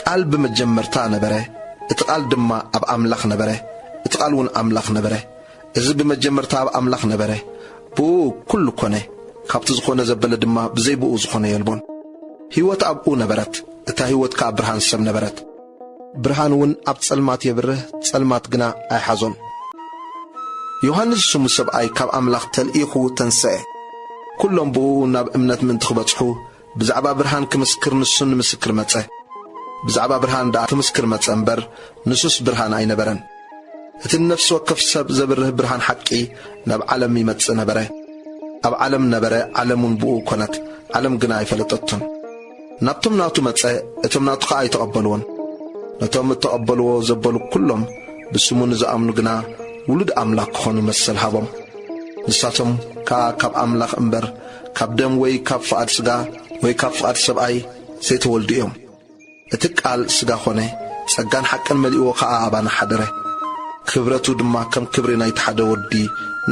ቃል ብመጀመርታ ነበረ፣ እቲ ቃል ድማ ኣብ ኣምላኽ ነበረ፣ እቲ ቃልውን ኣምላኽ ነበረ። እዚ ብመጀመርታ ኣብ ኣምላኽ ነበረ። ብእኡ ኵሉ ኰነ፣ ካብቲ ዝዀነ ዘበለ ድማ ብዘይ ብእኡ ዝዀነ የልቦን። ህይወት ኣብኡ ነበረት፣ እታ ህይወት ከኣ ብርሃን ሰብ ነበረት። ብርሃንውን ኣብ ጸልማት የብርህ፣ ጸልማት ግና ኣይሓዞን። ዮሃንስ ዝስሙ ሰብኣይ ካብ ኣምላኽ ተልኢኹ ተንስአ። ኵሎም ብእኡ ናብ እምነት ምእንቲ ኽበጽሑ፣ ብዛዕባ ብርሃን ክምስክር ንሱ ንምስክር መጸ። ብዛዕባ ብርሃን ደኣ ክምስክር መጸ እምበር፣ ንሱስ ብርሃን ኣይነበረን። እቲ ንነፍሲ ወከፍ ሰብ ዘብርህ ብርሃን ሓቂ ናብ ዓለም ይመጽእ ነበረ። ኣብ ዓለም ነበረ፣ ዓለምውን ብእኡ ኰነት፣ ዓለም ግና ኣይፈለጠቶን። ናብቶም ናቱ መጸ፣ እቶም ናቱ ኸኣ ኣይተቐበልዎን። ነቶም እተቐበልዎ ዘበሉ ኵሎም፣ ብስሙ ንዝኣምኑ ግና፣ ውሉድ ኣምላኽ ክዀኑ መሰል ሃቦም። ንሳቶም ከኣ ካብ ኣምላኽ እምበር፣ ካብ ደም ወይ ካብ ፍቓድ ሥጋ ወይ ካብ ፍቓድ ሰብኣይ ዘይተወልዱ እዮም። እቲ ቃል ሥጋ ኾነ፣ ጸጋን ሓቅን መሊእዎ ከኣ ኣባና ሓደረ። ክብረቱ ድማ ከም ክብሪ ናይቲ ሓደ ወዲ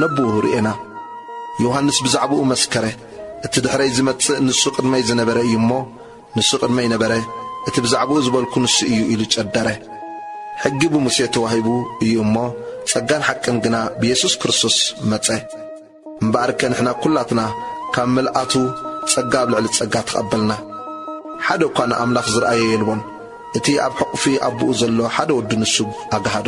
ነቡኡ ርኤና። ዮሐንስ ብዛዕባኡ መስከረ፣ እቲ ድሕረይ ዚመጽእ ንሱ ቅድመይ ዝነበረ እዩ እሞ፣ ንሱ ቅድመይ ነበረ፣ እቲ ብዛዕባኡ ዝበልኩ ንሱ እዩ ኢሉ ጨደረ። ሕጊ ብሙሴ ተዋሂቡ እዩ እሞ፣ ጸጋን ሓቅን ግና ብየሱስ ክርስቶስ መጸ። እምበኣርከ ንሕና ኵላትና ካብ ምልኣቱ ጸጋ ኣብ ልዕሊ ጸጋ ተቐበልና። ሓደ እኳ ንኣምላኽ ዝርኣዮ የልቦን፣ እቲ ኣብ ሕቝፊ ኣቦኡ ዘሎ ሓደ ወዱ ንሱ ኣግሃዶ።